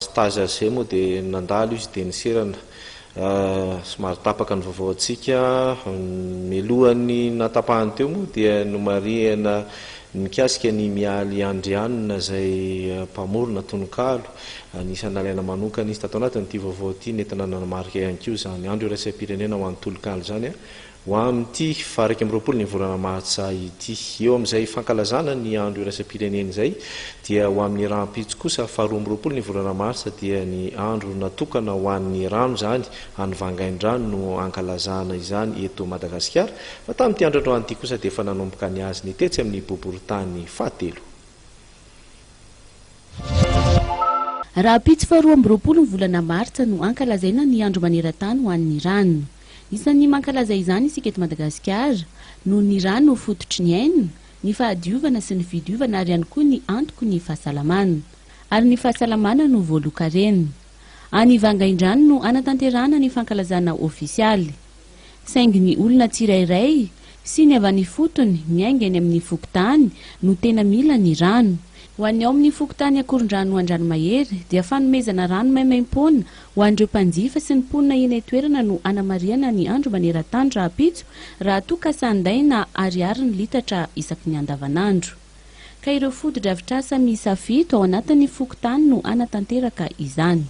Stage azy izay moa dia nandalo izy dia niserana. Somary tapaka ny vaovaontsika. Mialohan'ny nahatapahany teo moa dia nomarihana mikasika an'i Mialy Andrianina izay mpamorona tononkalo. Anisan'ny nalaina manokana izy tato anatin'ity vaovao ity. Nentina nanamarika ihany koa izany Andro Iraisam-pirenena ho an'ny Tononkalo izany. Ho amin'ity faha iraika amby roapolo ny volana Martsa ity. Eo amin'izay fankalazana ny andro iraisam-pirenena izay dia ho amin'ny rahampitso kosa faha roa amby roapolo ny volana Martsa dia ny andro natokana ho an'ny rano izany, any Vangaindrano no ankalazana izany eto Madagasikara fa tamin'ity andro androany ity kosa dia efa nanomboka ny azy ny tetsy amin'ny boborintany fahatelo. Rahampitso faharoa amby roapolo ny volana martsa no hankalazaina ny andro maneran-tany ho an'ny rano. Isan'ny mankalaza izany isika eto Madagasikara, noho ny rano fototry ny aina, ny fahadiovana sy ny fidiovana ary ihany koa ny antoko ny fahasalamana. Ary ny fahasalamana no voaloan-karena. Any Vangaindrano no hanatanterahana ny fankalazana ofisialy. saingy ny olona tsirairay sy ny avy any ifotony miainga eny amin'ny fokontany no tena mila ny rano. Ho an'ny ao amin'ny fokontany Akorondrano Andranomahery dia fanomezana rano maimaim-poana ho an'ireo mpanjifa sy ny mponina eny an-toerana no anamarihana ny andro maneran-tany rahampitso raha toa ka sandaina ariary ny litatra isaky ny andavanandro ka ireo fotodrafitrasa miisa fito ao anatin'ny fokontany no hanatanteraka izany.